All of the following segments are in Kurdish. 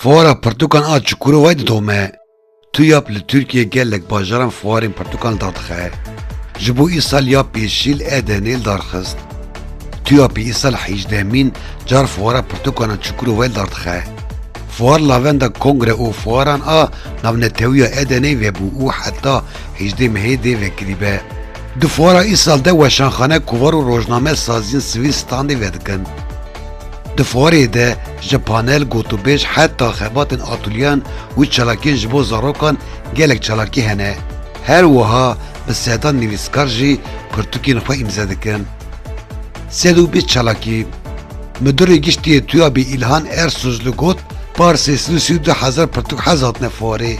Fuara pirtûkan a Çukurowayê didome. TUYAP li Tirkiyeyê gelek bajaran fuarên pirtûkan li dar dixe. Ji bo îsal ya pêşî li Edenê li dar xist. TUYAP'ê îsal hîjdehemîn car fuara pirtûkan a Çukurowayê li dar dixe. Fuar lavenda kongre û fuaran a navnetewiya Edeneyê vebû û heta hêjdê mehê dê vekirîbe. Di fuara Îsal de weşanxane, kovar û rojname saziyên sivîl standê vedikin. Di fuarê de ji panel, gotûbêj heta xebatên atûlyeyan û çalakiyên ji bo zarokan gelek çalakî hene. Her wiha bi sedan nivîskar jî pirtûkên xwe îmze dikin. Sed û bîst çalakî. Midurê Giştî yê TUYAB'ê Îlhan Ersuzlu got, Parsê sed û sî û du hezar pirtûk hez hatine fuarê.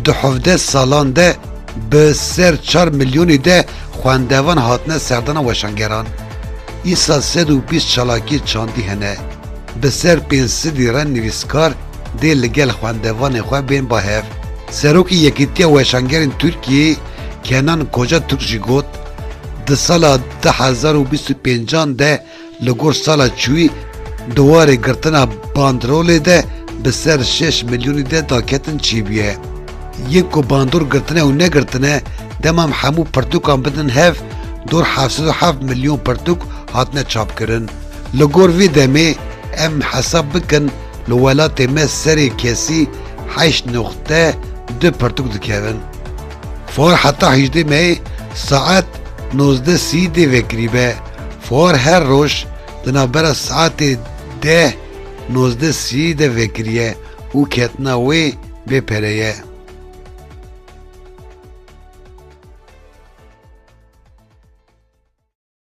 Di hevdeh salan de, Bi ser çar milyonî de xwendevan hatine serdana weşangeran. Îsa sed û bîst çalakiyê çandî hene. Bi ser pênc sidî re nivîskar dê li gel xwendevanê xwe bên ba hev. Serokê Yekîtiya Weşangerên Tirkiyeyê Kenan Koca Türk jî got, Di sala du hezar û bîst û pêncan de Li gor sala çûyî di warê girtina bandrolê de bi ser şeş milyonî de daketin çêbûye. Yên ku bandor girtine û negirtine dema em hemû pirtûkan bidin hev dor heft sed û heft milyon pirtûk hatine çapkirin. Li gor vê demê em hesab bikin li welatê me serê kesî heşt noqte du pirtûk dikevin. Fuar heta hejdê meyê saet nozdeh sî dê vekirîbe. Fuar her roj di navbera saetê deh nozdeh sî de vekiriye û ketina wê bê pere ye.